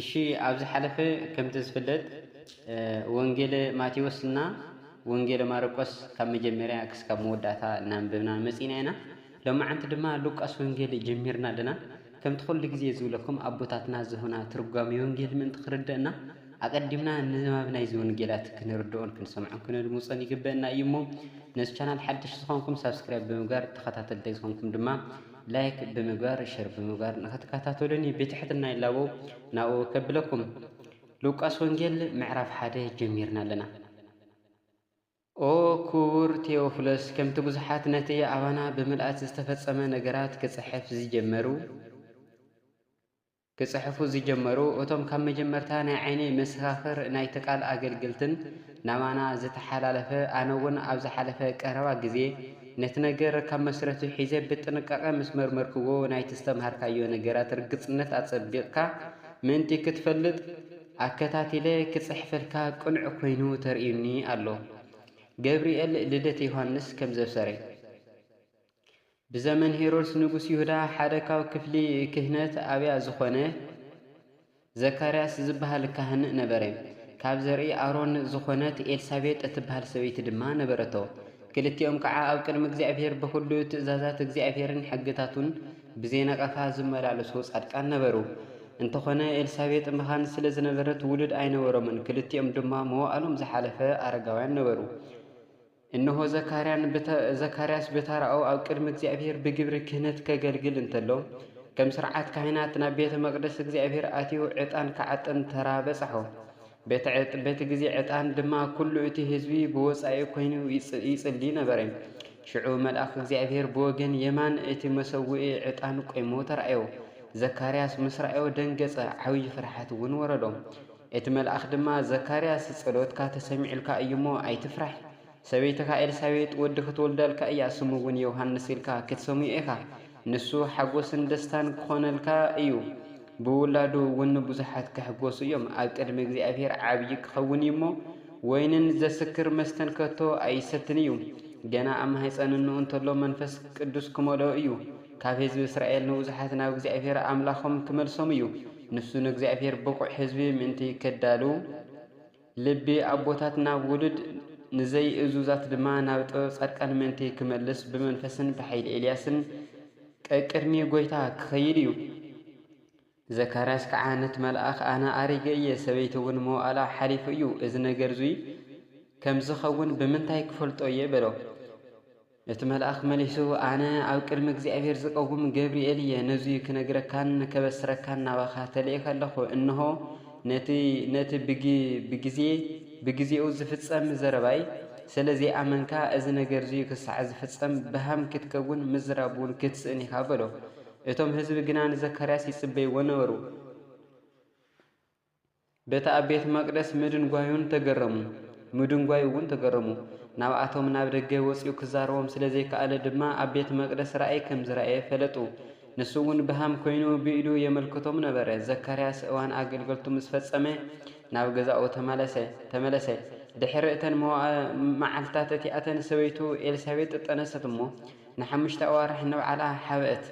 እሺ ኣብ ዝሓለፈ ከምቲ ዝፍለጥ ወንጌለ ማቴዎስ እና ወንጌለ ማርቆስ ካብ መጀመርያ ክስካብ መወዳእታ እናንብብና መጺና ኢና ሎማዓንቲ ድማ ሉቃስ ወንጌል ጀሚርና ኣለና ከምቲ ኩሉ ግዜ ዝብለኩም ኣቦታትና ዝሁና ትርጓሜ ወንጌል ምእንቲ ክርደእና ኣቀዲምና ንባብ ናይዚ ወንጌላት ክንርድኦን ክንሰምዖን ክንድምጾን ይግበእና እዩ እሞ ነዚ ቻናል ሓድሽ ዝኾንኩም ሳብስክራይብ ብምግባር ተኸታተልቲ ዝኾንኩም ድማ ላይክ ብምግባር ሸር ብምግባር ንክትከታተሉኒ ብትሕትና ይላበው ናብኡ ከብለኩም ሉቃስ ወንጌል ምዕራፍ ሓደ ጀሚርና ኣለና ኦ ክቡር ቴዎፍሎስ ከምቲ ብዙሓት ነቲ ኣባና ብምልኣት ዝተፈጸመ ነገራት ክጽሕፍ ዝጀመሩ ክጽሕፉ ዝጀመሩ እቶም ካብ መጀመርታ ናይ ዓይነይ መሰኻኽር ናይቲ ቃል ኣገልገልትን ናባና ዝተሓላለፈ ኣነ እውን ኣብ ዝሓለፈ ቀረባ ግዜ ነቲ ነገር ካብ መስረቱ ሒዘ ብጥንቃቐ ምስ መርመርክዎ ናይቲ ዝተምሃርካዮ ነገራት ርግጽነት ኣጸቢቕካ ምእንቲ ክትፈልጥ ኣከታቲለ ክጽሕፈልካ ቅኑዕ ኮይኑ ተርእዩኒ ኣሎ ገብርኤል ልደት ዮሃንስ ከም ዘብሰረ። ብዘመን ሄሮድስ ንጉስ ይሁዳ ሓደ ካብ ክፍሊ ክህነት ኣብያ ዝኾነ ዘካርያስ ዝበሃል ካህን ነበረ። ካብ ዘርኢ ኣሮን ዝኾነት ኤልሳቤጥ እትበሃል ሰበይቲ ድማ ነበረቶ። ክልቲኦም ከዓ ኣብ ቅድሚ እግዚኣብሔር ብኹሉ ትእዛዛት እግዚኣብሔርን ሕግታቱን ብዘይነቐፋ ዝመላለሱ ጻድቃን ነበሩ። እንተኾነ ኤልሳቤጥ መኻን ስለ ዝነበረት ውሉድ ኣይነበሮምን፣ ክልቲኦም ድማ መዋእሎም ዝሓለፈ ኣረጋውያን ነበሩ። እንሆ ዘካርያስ ብተራኡ ኣብ ቅድሚ እግዚኣብሔር ብግብሪ ክህነት ከገልግል እንተሎ፣ ከም ሥርዓት ካህናት ናብ ቤተ መቕደስ እግዚኣብሔር ኣትዩ ዕጣን ክዓጥን ተራ በጽሖ። በቲ ጊዜ ዕጣን ድማ ኩሉ እቲ ሕዝቢ ብወጻኢ ኮይኑ ይጽሊ ነበረ። ሽዑ መልኣኽ እግዚኣብሔር ብወገን የማን እቲ መሰውኢ ዕጣን ቆይሙ ተራእዮ። ዘካርያስ ምስ ረኣዮ ደንገጸ፣ ዓብዪ ፍርሓት እውን ወረዶ። እቲ መልኣኽ ድማ፣ ዘካርያስ፣ ጸሎትካ ተሰሚዑልካ እዩ እሞ፣ ኣይትፍራሕ። ሰበይትኻ ኤልሳቤጥ ወዲ ኽትወልደልካ እያ፣ ስሙ እውን ዮሃንስ ኢልካ ክትሰምዮ ኢኻ። ንሱ ሓጐስን ደስታን ኪዀነልካ እዩ፣ ብውላዱ እውን ብዙሓት ኪሕጐሱ እዮም። ኣብ ቅድሚ እግዚኣብሄር ዓብዪ ኪኸውን እዩ እሞ፣ ወይንን ዜስክር መስተን ከቶ ኣይሰትን እዩ። ገና ኣብ ማህጸን እንኡ እንተሎ መንፈስ ቅዱስ ኪመልኦ እዩ። ካብ ህዝቢ እስራኤል ንብዙሓት ናብ እግዚኣብሄር ኣምላኾም ክመልሶም እዩ። ንሱ ንእግዚኣብሄር ብቑዕ ህዝቢ ምእንቲ ከዳሉ፣ ልቢ ኣቦታት ናብ ውሉድ፣ ንዘይእዙዛት ድማ ናብ ጥበብ ጻድቃን ምእንቲ ክመልስ ብመንፈስን ብሓይሊ ኤልያስን ቀቅድሚ ጐይታ ክኸይድ እዩ። ዘካርያስ ከኣ ነቲ መልኣኽ ኣነ ኣሪገ እየ፣ ሰበይቲ እውን መዋእላ ሓሊፉ እዩ፣ እዚ ነገር እዙይ ከም ዝኸውን ብምንታይ ክፈልጦ እየ? በሎ። እቲ መልኣኽ መሊሱ ኣነ ኣብ ቅድሚ እግዚኣብሔር ዝቀውም ገብርኤል እየ፣ ነዙይ ክነግረካን ከበስረካን ናባኻ ተልእኸ ኣለኹ፣ እንሆ ነቲ ነቲ ብግዜ ብግዜኡ ዝፍጸም ዘረባይ ስለ ዘይኣመንካ እዚ ነገር እዙይ ክሳዕ ዝፍጸም በሃም ክትከውን ምዝራብ እውን ክትስእን ኢኻ በሎ። እቶም ህዝቢ ግና ንዘካርያስ ይጽበይዎ ነበሩ። በቲ ኣብ ቤተ መቕደስ ምድንጓዩን ተገረሙ፣ ምድንጓዩ እውን ተገረሙ። ናብኣቶም ናብ ደገ ወጺኡ ክዛረቦም ስለ ዘይከኣለ ድማ ኣብ ቤተ መቕደስ ራእይ ከም ዝረኣየ ፈለጡ። ንሱ እውን ብሃም ኮይኑ ብኢዱ የመልክቶም ነበረ። ዘካርያስ እዋን ኣገልገልቱ ምስ ፈጸመ ናብ ገዛኡ ተመለሰ ተመለሰ። ድሕሪ እተን መዓልትታት እቲኣተን ሰበይቱ ኤልሳቤጥ ጠነሰት እሞ ንሓሙሽተ ኣዋርሕ ንባዕላ ሓበአት።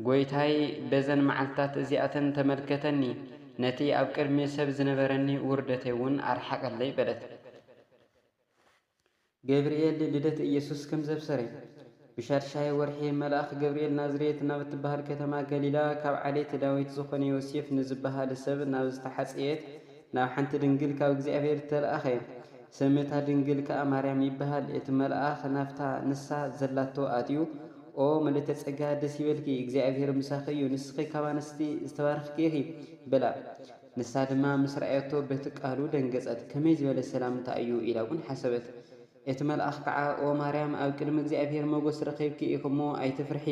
ጐይታይ በዘን መዓልትታት እዚኣተን ተመልከተኒ፣ ነቲ ኣብ ቅድሚ ሰብ ዝነበረኒ ውርደተይ እውን ኣርሓቐለይ በለት። ገብርኤል ልደት ኢየሱስ ከም ዘብሰረ። ብሻድሻይ ወርሒ መልኣኽ ገብርኤል ናዝሬት ናብ እትበሃል ከተማ ገሊላ ካብ ዓሌት ዳዊት ዝኾነ ዮሴፍ ንዝበሃል ሰብ ናብ ዝተሓጽየት ናብ ሓንቲ ድንግል ካብ እግዚኣብሔር ዝተልኣኸ ስም እታ ድንግል ከኣ ማርያም ይበሃል እቲ መልኣኽ ናብታ ንሳ ዘላቶ ኣትዩ ኦ ምልእተ ጸጋ ደስ ይበልኪ እግዚኣብሔር ምሳኺ እዩ ንስኺ ካብ ኣንስቲ ዝተባረኽኪ ኢኺ በላ ንሳ ድማ ምስ ረኣየቶ በቲ ቃሉ ደንገጸት ከመይ ዝበለ ሰላምታ እዩ ኢላ እውን ሓሰበት እቲ መልኣኽ ከዓ ኦ ማርያም ኣብ ቅድሚ እግዚኣብሔር መጎስ ረኺብኪ ኢኺ እሞ ኣይትፍርሒ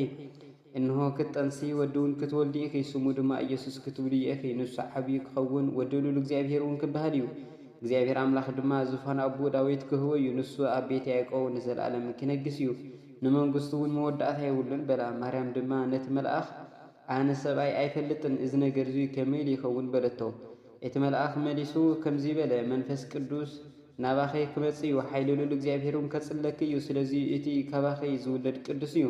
እንሆ ክትጠንሲ ወዲውን ክትወልዲ ኢኺ ስሙ ድማ ኢየሱስ ክትብልዮ ኢኺ ንሱ ዓብዩ ክኸውን ወዲ ሉል እግዚኣብሔር እውን ክበሃል እዩ እግዚኣብሔር ኣምላኽ ድማ ዙፋን ኣቡኡ ዳዊት ክህቦ እዩ ንሱ ኣብ ቤት ያዕቆብ ንዘለዓለም ክነግስ እዩ ንመንግስቱ እውን መወዳእታ የብሉን በላ ማርያም ድማ ነቲ መልኣኽ ኣነ ሰብኣይ ኣይፈልጥን እዚ ነገር እዙይ ከመይ ኢሉ ይኸውን በለቶ እቲ መልኣኽ መሊሱ ከምዙይ በለ፣ መንፈስ ቅዱስ ናባኺ ክመጽእ እዩ፣ ሓይሊ ልዑል እግዚኣብሄርውን ከጽለኪ እዩ፣ ስለዙይ እቲ ካባኺ ዝውለድ ቅዱስ እዩ፣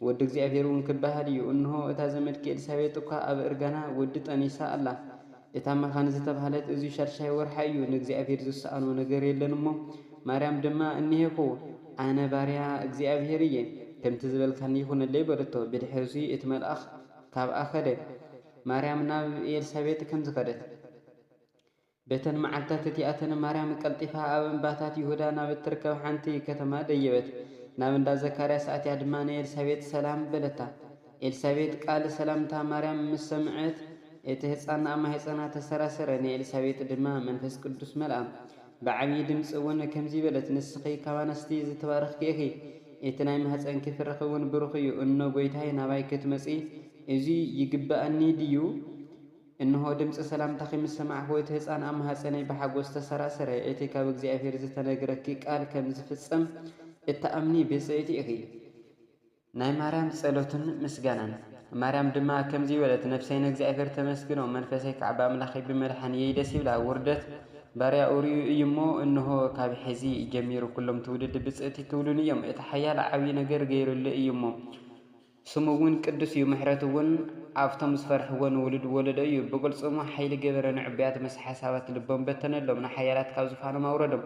ወዲ እግዚኣብሄርውን ክበሃል እዩ። እንሆ፣ እታ ዘመድኪ ኤልሳቤጥ እኳ ኣብ እርጋና ወዲ ጠኒሳ ኣላ፣ እታ መኻን ዝተባህለት እዙይ ሻድሻይ ወርሓ እዩ፣ ንእግዚኣብሄር ዝሰኣኖ ነገር የለን እሞ። ማርያም ድማ፣ እኔሄኩ፣ ኣነ ባርያ እግዚኣብሄር እየ፣ ከምቲ ዝበልካኒ ይኹነለይ በለቶ፣ ብድሕርዙይ እቲ መልኣኽ ካብኣ ከደ። ማርያም ናብ ኤልሳቤጥ ከም ዝኸደት። በተን መዓልትታት እቲኣተን ማርያም ቀልጢፋ ኣብ እምባታት ይሁዳ ናብ እትርከብ ሓንቲ ከተማ ደየበት፣ ናብ እንዳ ዘካርያስ ኣትያ ድማ ንኤልሳቤጥ ሰላም በለታ። ኤልሳቤጥ ቃል ሰላምታ ማርያም ምስ ሰምዐት፣ እቲ ህጻን ኣብ ማህጸና ተሰራሰረ፣ ንኤልሳቤጥ ድማ መንፈስ ቅዱስ መልኣ። ብዓብዪ ድምጺ ውን ከምዚ በለት፣ ንስኺ ካብ ኣንስቲ ዝተባረኽኪ ኢኺ፣ እቲ ናይ ማህጸንኪ ፍረኺ ውን ብሩኽ እዩ። እኖ ጐይታይ ናባይ ክትመጺ እዙይ ይግብኣኒ ድዩ? እንሆ ድምጺ ሰላምታኺ ምስ ሰማዕኩ፣ እቲ ህጻን ኣብ ማህጸነይ ብሓጐስ ተሰራሰረ። እቲ ካብ እግዚኣብሄር ዝተነግረኪ ቃል ከም ዝፍጸም እትኣምኒ ብጽእቲ ኢኺ። ናይ ማርያም ጸሎትን ምስጋናን። ማርያም ድማ ከምዚ በለት፣ ነፍሰይ ንእግዚኣብሔር ተመስግኖ፣ መንፈሰይ ከዓ ብኣምላኸይ ብመድሓኒየይ ደስ ይብላ፣ ውርደት ባርያኡ ርእዩ እዩ እሞ፣ እንሆ፣ ካብ ሕዚ ጀሚሩ ኵሎም ትውልዲ ብፅእት ክብሉኒ እዮም፣ እቲ ሓያል ዓብዪ ነገር ገይሩለይ እዩ እሞ፣ ስሙ እውን ቅዱስ እዩ፣ ምሕረቱ እውን ኣብቶም ዝፈርሕዎ ንውሉድ ወለዶ እዩ፣ ብቕልፅሙ ሓይሊ ገበረ፣ ንዕቡያት ምስ ሓሳባት ልቦም በተነሎም፣ ንሓያላት ካብ ዙፋኖም ኣውረዶም፣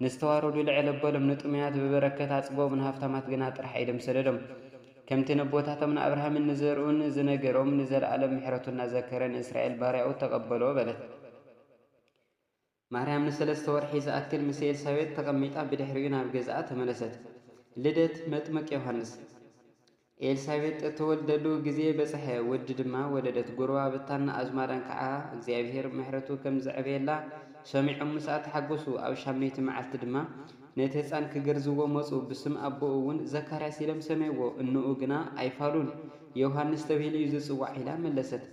ንዝተዋረዱ ልዕል ኣበሎም፣ ንጥሙያት ብበረከት ኣጽግቦም፣ ንሃብታማት ግና ጥርሓይ ኢዶም ሰደዶም። ከምቲ ነቦታቶም ንኣብርሃምን ንዘርኡን ዝነገሮም፣ ንዘለኣለም ምሕረቱ እናዘከረ ንእስራኤል ባርያኡ ተቐበሎ በለት። ማርያም ንሰለስተ ወርሒ ዝኣክል ምስ ኤልሳቤጥ ተቐሚጣ ብድሕሪኡ ናብ ገዝኣ ተመለሰት። ልደት መጥምቅ ዮሃንስ። ኤልሳቤጥ እተወልደሉ ግዜ በጽሐ፣ ወዲ ድማ ወለደት። ጐረባብታን ኣዝማዳን ከኣ እግዚኣብሄር ምሕረቱ ከም ዘዕበየላ ሰሚዖም ምስኣ ተሓጐሱ። ኣብ ሻምነይቲ መዓልቲ ድማ ነቲ ህጻን ኪገርዝዎ መጹ፣ ብስም ኣቦኡ እውን ዘካርያስ ኢሎም ሰመይዎ። እኖኡ ግና ኣይፋሉን፣ ዮሃንስ ተብሂሉ እዩ ዚጽዋዕ ኢላ መለሰት።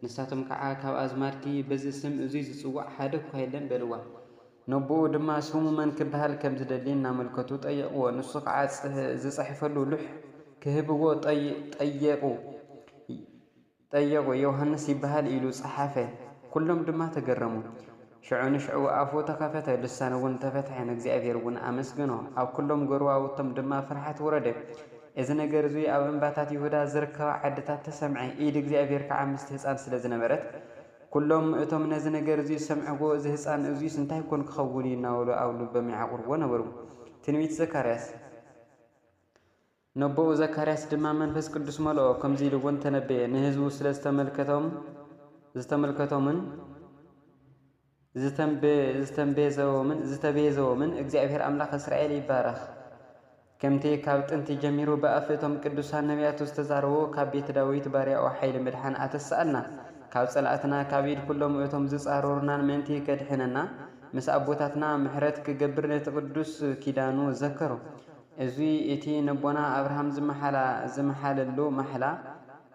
ንሳቶም ከኣ ካብ ኣዝማድኪ በዚ ስም እዙይ ዚጽዋዕ ሓደ እኳ የለን በልዋ። ነቦኡ ድማ ስሙ መን ክበሃል ከም ዝደሊ እናመልከቱ ጠየቕዎ። ንሱ ከዓ ዝፀሐፈሉ ሉሕ ክህብዎ ጠየቑ። ዮሃንስ ይበሃል ኢሉ ፀሓፈ። ኵሎም ድማ ተገረሙ። ሽዑ ንሽዑ ኣፉ ተኸፈተ፣ ልሳኑ እውን ተፈትሐ፣ ንእግዚኣብሄር እውን ኣመስገኖ። ኣብ ኵሎም ጐረባብቶም ድማ ፍርሃት ወረደ። እዚ ነገር እዙይ ኣብ እምባታት ይሁዳ ዝርከባ ዓድታት ተሰምዐ፣ ኢድ እግዚኣብሄር ከዓ ምስቲ ህፃን ስለ ዝነበረት፣ ኵሎም እቶም ነዚ ነገር እዚ ዝሰምዕዎ፣ እዚ ህጻን እዙይስ እንታይ ኰን ኪኸውን እዩ? እናበሉ ኣብ ልቦም የዓቝርዎ ነበሩ። ትንቢት ዘካርያስ። ነቦኡ ዘካርያስ ድማ መንፈስ ቅዱስ መልኦ፣ ከምዙይ ኢሉ እውን ተነበየ፣ ንህዝቡ ስለ ዝተመልከቶምን፣ ዝተምቤዘዎምን ዝተቤዘዎምን እግዚኣብሔር ኣምላኽ እስራኤል ይባረኽ። ከምቲ ካብ ጥንቲ ጀሚሩ ብኣፍ እቶም ቅዱሳን ነብያቱ ዝተዛረቦ ካብ ቤት ዳዊት ባርያኡ ሓይሊ ምድሓን ኣተስኣልና ካብ ጸላእትና ካብ ኢድ ኩሎም እቶም ዝጻረሩናን ምእንቲ ከድሕነና ምስ ኣቦታትና ምሕረት ክገብር ነቲ ቅዱስ ኪዳኑ ዘከሮ እዙይ እቲ ነቦና ኣብርሃም ዝመሓለሉ ማሕላ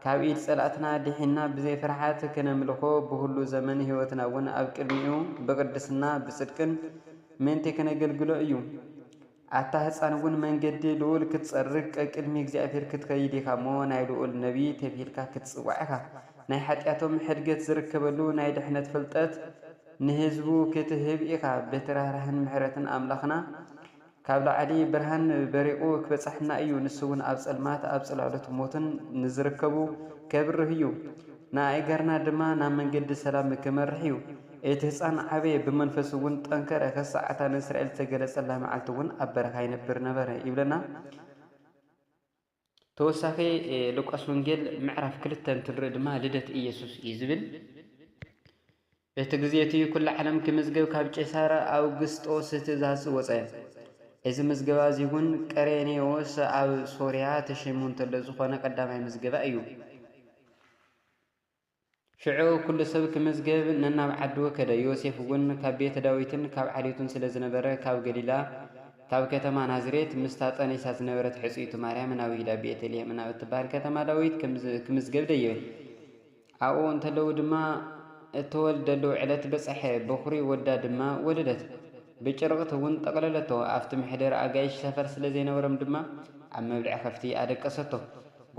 ካብ ኢድ ጸላእትና ድሒንና ብዘይ ፍርሓት ክነምልኾ ብኹሉ ዘመን ሕይወትና እውን ኣብ ቅድሚኡ ብቅድስና ብጽድቅን ምእንቲ ክነገልግሎ እዩ። ኣታ ህጻን እውን መንገዲ ልኡል ክትጸርግ ቀቅድሚ እግዚኣብሔር ክትከይድ ኢኻ እሞ ናይ ልኡል ነቢይ ተብሂልካ ክትጽዋዕ ኢኻ። ናይ ኃጢኣቶም ኅድገት ዝርከበሉ ናይ ድኅነት ፍልጠት ንሕዝቡ ክትህብ ኢኻ። በቲ ራህራህን ምሕረትን ኣምላኽና ካብ ላዕሊ ብርሃን በሪቑ ክበጽሐና እዩ፣ ንሱውን ኣብ ጸልማት ኣብ ጽላሎት ሞትን ንዝርከቡ ከብርህ እዩ፣ ንኣእጋርና ድማ ናብ መንገዲ ሰላም ክመርሕ እዩ። እቲ ህጻን ዓበየ፣ ብመንፈሱውን ጠንከረ፣ ከሳዕ እታ ንእስራኤል እተገለጸላ መዓልቲውን ኣብ በረኻ ይነብር ነበረ ይብለና። ተወሳኺ ሉቃስ ወንጌል ምዕራፍ ክልተ እንትንርኢ ድማ ልደት ኢየሱስ እዩ ዝብል በቲ ግዜ እቲ ኩሉ ዓለም ክምዝገብ ካብ ቄሳር ኣውግስጦስ ትእዛዝ ወፀ። እዚ ምዝገባ እዚ እውን ቀሬኔዎስ ኣብ ሶርያ ተሸይሙ እንተሎ ዝኾነ ቀዳማይ ምዝገባ እዩ። ሽዑ ኵሉ ሰብ ክምዝገብ ነናብ ዓዱ ከደ። ዮሴፍ እውን ካብ ቤት ዳዊትን ካብ ዓሌቱን ስለ ዝነበረ፣ ካብ ገሊላ ካብ ከተማ ናዝሬት ምስታ ጠኒሳ ዝነበረት ሕጽይቱ ማርያም ናብ ይሁዳ ቤተ ልሔም ናብ እትበሃል ከተማ ዳዊት ክምዝገብ ደየበ። ኣብኡ እንተለዉ ድማ እተወልደሉ ዕለት በጸሐ፣ በዅሪ ወዳ ድማ ወለደት። ብጭርቕት እውን ጠቕለለቶ፣ ኣብቲ መሕደሪ ኣጋይሽ ሰፈር ስለ ዘይነበሮም ድማ ኣብ መብልዒ ከፍቲ ኣደቀሰቶ።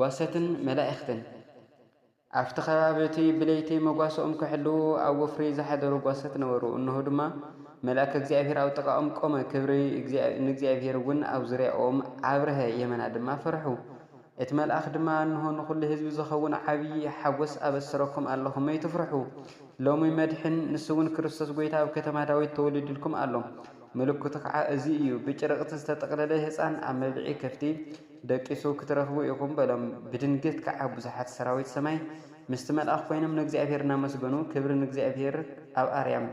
ጓሶትን መላእኽትን። ኣብቲ ከባቢ እቲ ብለይቲ መጓሰኦም ኪሕልዉ ኣብ ወፍሪ ዝሓደሩ ጓሶት ነበሩ፣ እንሆ ድማ፣ መልኣከ እግዚኣብሄር ኣብ ጥቓኦም ቆመ፣ ክብሪ ንእግዚኣብሄርውን ኣብ ዙርያኦም ኣብርሀ፣ የመና ድማ ፈርሑ። እቲ መልኣኽ ድማ፣ እንሆ፣ ንኹሉ ህዝቢ ዚኸውን ዓብዪ ሓጐስ ኣበስረኩም ኣሎኹ፣ መይትፍርሑ፣ ሎሚ መድኅን፣ ንሱውን ክርስቶስ ጐይታ ኣብ ከተማ ዳዊት ተወሊዱልኩም ኣሎ፣ ምልክቱ ከዓ እዙይ እዩ፣ ብጭርቕቲ ዝተጠቕለለ ሕፃን ኣብ መብልዒ ከፍቲ፣ ደቂሱ ክትረኽቡ ኢኹም በሎም። ብድንገት ከዓ ብዙሓት ሰራዊት ሰማይ ምስቲ መልኣኽ ኮይኖም ንእግዚኣብሔር እናመስገኑ ክብሪ ንእግዚኣብሔር ኣብ ኣርያም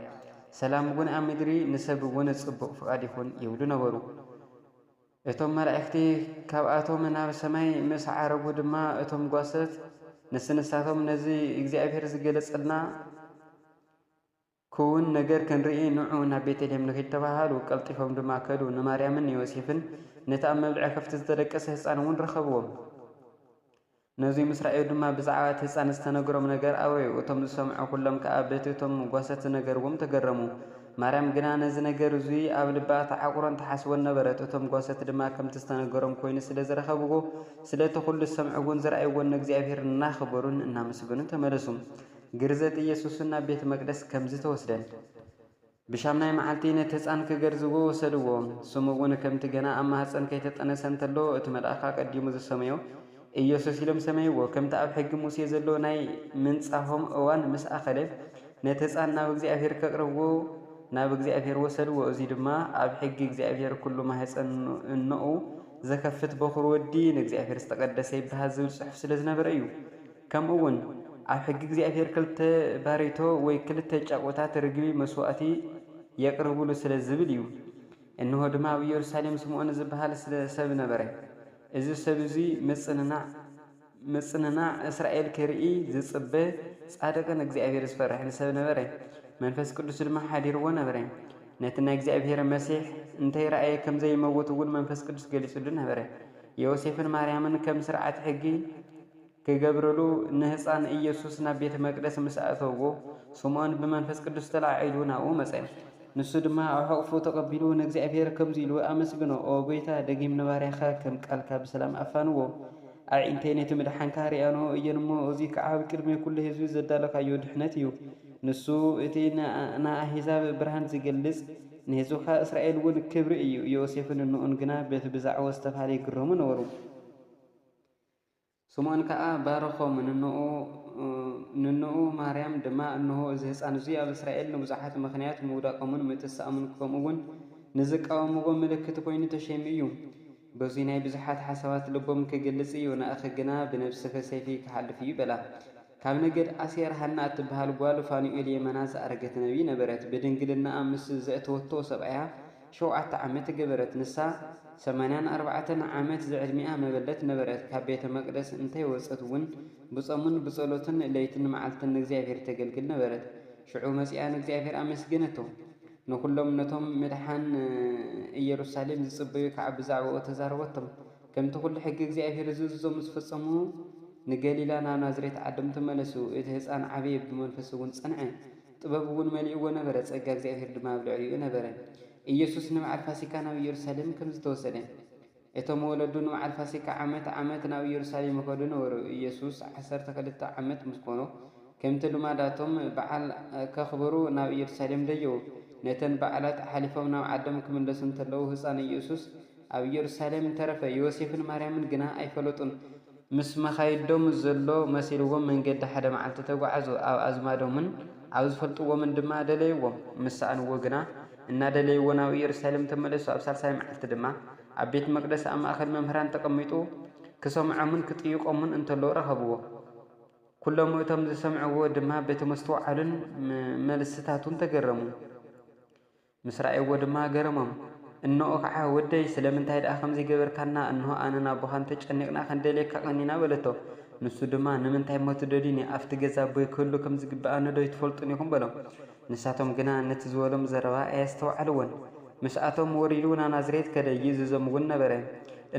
ሰላም እውን ኣብ ምድሪ ንሰብ እውን ጽቡቕ ፍቓድ ይኹን ይብሉ ነበሩ። እቶም መላእክቲ ካብኣቶም ናብ ሰማይ ምስ ዓረጉ ድማ እቶም ጓሶት ንስንሳቶም ነዚ እግዚኣብሔር ዝገለጸልና ክዉን ነገር ክንርኢ ንዑ ናብ ቤተልሔም ንኺድ ተባሃሉ። ቀልጢፎም ድማ ከዱ፣ ንማርያምን ንዮሴፍን ነቲ ኣብ መብልዒ ከፍቲ ዝተደቀሰ ህጻን እውን ረኸብዎም። ነዙይ ምስ ረኣዩ ድማ ብዛዕባ እቲ ህጻን ዝተነገሮም ነገር ኣውረዩ፣ እቶም ዝሰምዑ ዅሎም ከኣ በቲ እቶም ጓሶት ዝነገርዎም ተገረሙ። ማርያም ግና ነዚ ነገር እዙይ ኣብ ልባ ትዓቝሮን ትሓስቦን ነበረት፣ እቶም ጓሶት ድማ ከምቲ ዝተነገሮም ኮይኑ ስለ ዝረኸብዎ ስለቲ ዅሉ ዝሰምዕዎን ዝረኣይዎን ንእግዚኣብሔር እናኸበሩን እናመስገኑን ተመለሱ። ግርዘት ኢየሱስን ናብ ቤተ መቅደስ ከምዚ ተወስደን። ብሻምናይ መዓልቲ ነቲ ህጻን ክገርዝዎ ወሰድዎ። ስሙ እውን ከምቲ ገና ኣብ ማህጸን ከይተጠነሰ እንተሎ እቲ መልኣኽ ኣቀዲሙ ዝሰመዮ ኢየሱስ ኢሎም ሰመይዎ። ከምቲ ኣብ ሕጊ ሙሴ ዘሎ ናይ ምንጻሆም እዋን ምስ ኣኸለ ነቲ ህጻን ናብ እግዚኣብሔር ከቅርብዎ ናብ እግዚኣብሔር ወሰድዎ እዙይ ድማ ኣብ ሕጊ እግዚኣብሔር ኩሉ ማህጸን እኖኡ ዘከፍት በኹር ወዲ ንእግዚኣብሔር ዝተቀደሰ ይበሃል ዝብል ጽሑፍ ስለዝነበረ እዩ። ከምኡውን ኣብ ሕጊ እግዚኣብሔር ክልተ ባሬቶ ወይ ክልተ ጫቊታት ርግቢ መሥዋዕቲ የቅርቡሉ ስለ ዝብል እዩ። እንሆ ድማ ኣብ ኢየሩሳሌም ስምዖን ዝበሃል ሰብ ነበረ። እዚ ሰብ እዙይ ምጽንናዕ ምጽንናዕ እስራኤል ክርኢ ዝጽበ ጻድቕን እግዚኣብሔር ዝፈርሕን ሰብ ነበረ። መንፈስ ቅዱስ ድማ ሓዲርዎ ነበረ። ነቲ ናይ እግዚኣብሔር መሲሕ እንተይረኣየ ከም ዘይመውት እውን መንፈስ ቅዱስ ገሊጽሉ ነበረ። ዮሴፍን ማርያምን ከም ሥርዓት ሕጊ ክገብርሉ ንህጻን ኢየሱስ ናብ ቤተ መቅደስ ምስ ኣእተውዎ፣ ስምዖን ብመንፈስ ቅዱስ ተለዓዒሉ ናብኡ መጸ። ንሱ ድማ ኣብ ሕቕፉ ተቐቢሉ ንእግዚኣብሔር ከምዚ ኢሉ ኣመስገኖ፣ ኦ ጐይታ፣ ደጊም ንባርያኻ ከም ቃልካ ብሰላም ኣፋንዎ። ኣዒንተይ ነቲ ምድሓንካ ርእያንኦ እየን እሞ፣ እዙይ ከዓ ኣብ ቅድሚ ኵሉ ሕዝቢ ዘዳሎኻዮ ድኅነት እዩ። ንሱ እቲ ንኣሕዛብ ብርሃን ዚገልጽ፣ ንሕዝብኻ እስራኤል'ውን ክብሪ እዩ። ዮሴፍን እኖኡን ግና በቲ ብዛዕባኡ ዝተባህለ ይግረሙ ነበሩ። ስምኦን ከኣ ባረኾም፣ ንኖኡ ንኖኡ ማርያም ድማ፣ እንሆ እዚ ህጻን እዙይ ኣብ እስራኤል ንብዙሓት ምኽንያት ምውዳቆምን ምትሳኦምን ከምኡ እውን ንዝቃወምዎ ምልክት ኮይኑ ተሸይሙ እዩ። በዙይ ናይ ብዙሓት ሓሳባት ልቦም ክግልጽ እዩ፣ ንኣኺ ግና ብነብስኺ ሰይፊ ክሓልፍ እዩ በላ። ካብ ነገድ ኣሴር ሃና እትበሃል ጓል ፋኑኤል የመና ዝኣረገት ነብይ ነበረት፣ ብድንግልናኣ ምስ ዘእተወቶ ሰብኣያ፣ ሸውዓተ ዓመት ገበረት ንሳ ሰማንያን ኣርባዕተን ዓመት ዝዕድሚኣ መበለት ነበረት ካብ ቤተ መቅደስ እንተይ ወጸት ውን ብጾምን ብጸሎትን ለይትን መዓልትን ንእግዚኣብሔር ተገልግል ነበረት ሽዑ መጺኣ ንእግዚኣብሔር ኣመስገነቶ ንኩሎም ነቶም ምድሓን እየሩሳሌም ዝጽበዩ ከኣ ብዛዕባኡ ተዛረበቶም ከምቲ ኩሉ ሕጊ እግዚኣብሔር ዝእዝዞ ምስ ፈጸሙ ንገሊላ ናብ ናዝሬት ዓዶም ተመለሱ እቲ ህጻን ዓበየ ብመንፈስ ውን ጸንዐ ጥበብ እውን መሊእዎ ነበረ፣ ጸጋ እግዚኣብሄር ድማ ኣብ ልዕሊኡ ነበረ። ኢየሱስ ንበዓል ፋሲካ ናብ ኢየሩሳሌም ከም ዝተወሰደ። እቶም ወለዱ ንበዓል ፋሲካ ዓመት ዓመት ናብ ኢየሩሳሌም ይኸዱ ነበሩ። ኢየሱስ ዓሰርተ ክልተ ዓመት ምስ ኮኖ ከምቲ ልማዳቶም በዓል ከኽብሩ ናብ ኢየሩሳሌም ደየቡ። ነተን በዓላት ሓሊፎም ናብ ዓዶም ክምለሱ እንተለዉ ህጻን ኢየሱስ ኣብ ኢየሩሳሌም ተረፈ። ዮሴፍን ማርያምን ግና ኣይፈለጡን። ምስ መኻይዶም ዘሎ መሲልዎም መንገዲ ሓደ መዓልቲ ተጓዕዙ። ኣብ ኣዝማዶምን ኣብ ዝፈልጥዎምን ድማ ደለይዎም። ምስ ሰኣንዎ ግና፣ እናደለይዎ ናብ ኢየሩሳሌም ተመለሱ። ኣብ ሳልሳይ መዓልቲ ድማ፣ ኣብ ቤት መቕደስ ኣብ ማእከል መምህራን ተቐሚጡ ክሰምዖምን ክጥይቖምን እንተሎ ረኸብዎ። ኵሎም እቶም ዝሰምዕዎ ድማ በቲ መስተውዓሉን መልስታቱን ተገረሙ። ምስ ረኣይዎ ድማ ገረሞም። እንኦ ኸዓ ወደይ ስለምንታይ ደኣ ከምዚ ገበርካና እንሆ ኣነን ኣቦኻን ተጨኒቕና ክንደልየካ ቀኒና በለቶ። ንሱ ድማ ንምንታይ እሞ ትደልዩኒ ኣፍቲ ገዛ ኣቦይ ክህሉ ከም ዝግበኣኒዶ ኣይትፈልጡን ኢኹም በሎም። ንሳቶም ግና ነቲ ዝበሎም ዘረባ ኣየስተውዓልዎን። ምስኣቶም ወሪዱ ናብ ናዝሬት ከደ ይእዝዞም እውን ነበረ።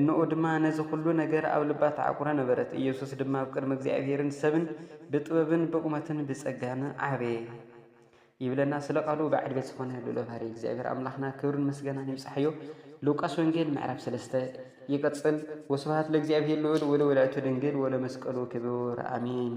እንኦ ድማ ነዚ ኹሉ ነገር ኣብ ልባ ተዓቁረ ነበረት። ኢየሱስ ድማ ኣብ ቅድሚ እግዚኣብሔርን ሰብን ብጥበብን ብቑመትን ብጸጋን ዓበየ። ይብለና ስለ ቃሉ በዓል ቤት ዝኾነ ልኡለ ባህሪ እግዚኣብሔር ኣምላኽና ክብርን ምስገናን ይብጻሕዮ። ሉቃስ ወንጌል ምዕራፍ ሰለስተ ይቅጽል። ወስብሃት ለእግዚኣብሔር ልዑል ወለወላዲቱ ድንግል ወለመስቀሉ ክቡር ኣሜን።